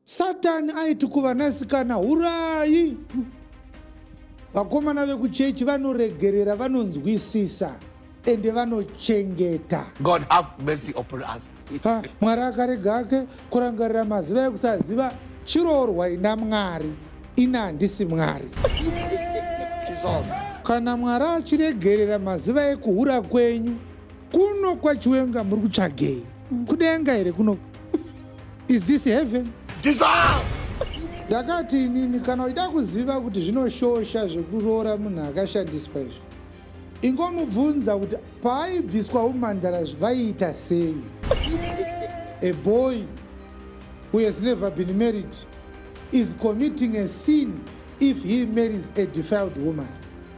Satani aiti kuvanasikana hurai. Vakomana vekuchechi vanoregerera, vanonzwisisa ende vanochengeta. God have mercy upon us. Ha, Mwari akarega ake kurangarira maziva ekusaziva chiroorwa ina Mwari. Ina handisi Mwari. Kana Mwari achiregerera maziva ekuhura kwenyu, kuno kwachiwenga muri kutsvagei? kudenga here kuno is this heaven ndakati inini kana uchida kuziva kuti zvinoshosha zvekuroora munhu akashandiswa izvi ingomubvunza kuti paaibviswa umandara zvaiita sei a boy who has never been married is committing a sin if he marries a defiled woman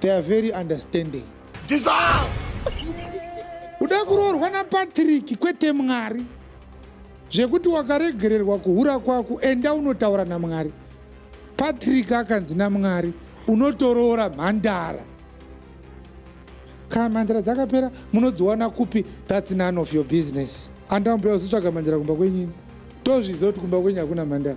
They are very understanding. Dissolve! Uda kuroorwa naPatrick kwete Mwari. Zvekuti wakaregererwa kuhura kwako enda unotaura naMwari. Patrick akanzi naMwari unotoroora mhandara. Kana mhandara dzakapera munodziwana kupi that's none of your business. Andambuya uzotsvaga mhandara kumba kwenyini. Tozviziva kuti kumba kwenyu hakuna mhandara.